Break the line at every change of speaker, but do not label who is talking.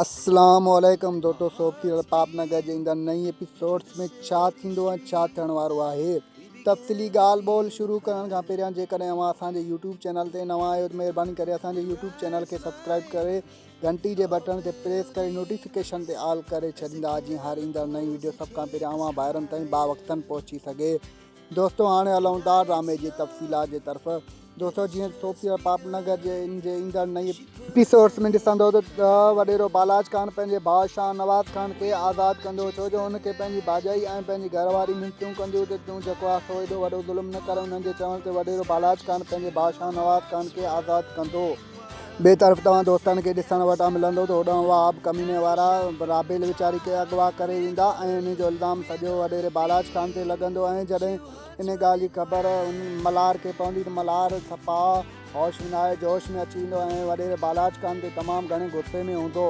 اسلام عليڪم دوتو صوب سيريل پاپ نگر جي ايندڙ نئين ايپيسوڊس ۾ ڇا ٿيندو ۽ ڇا ٿيڻ وارو آهي تفصيلي ڳالهه ٻولهه شروع ڪرڻ کان پهريان جيڪڏهن اوهان اسان جي يوٽيوب چينل تي نوان آهيو ته مهرباني ڪري اسان جي يوٽيوب چينل کي سبسڪرائب ڪري گهنٽي جي بٽڻ کي پريس ڪري نوٽيفڪيشن تي آل ڪري ڇڏيندا جيئن هر ايندڙ نئين وڊيو سڀ کان پهريان اوهان ڀائرن تائين باوقتن پهچي سگهي دوستو هاڻي هلون ٿا ڊرامي جي تفصيلات جي طرف دوستو جيئن سوپير پاپ نگر جي ان جي ايندڙ نئي ايپيسوڊس ۾ ڏسندو ته وڏيرو بالاج خان پنهنجي ڀاء شاهه نواز خان کي آزاد ڪندو ڇو جو هن کي پنهنجي ڀاڄائي ۽ پنهنجي گهر واري منٿيون ڪنديون ته تون جيڪو آهي سو ايڏو وڏو ظلم نه ڪر انهن جي چوڻ تي وڏيرو بالاج خان پنهنجي ڀاء شاهه نواز خان کي آزاد ڪندو ٻئي طرف توهان دوستن کي ڏسڻ وٽان ملندو ته هوڏانهن اها آب ڪميني وارا رابيل ويچاري کي اغوا ڪري ويندا ۽ انهي جو الزام سڄو وڏيري بالاچ خان تي لڳندو ۽ جڏهن انهي ڳالهه جي خبر ملهار کي پوندي ته ملهار صفا هوش ۾ ناهي جوش ۾ اچي ويندو ۽ وڏيري بالاچ خان تي تمام گهڻي غصي ۾ هوندو.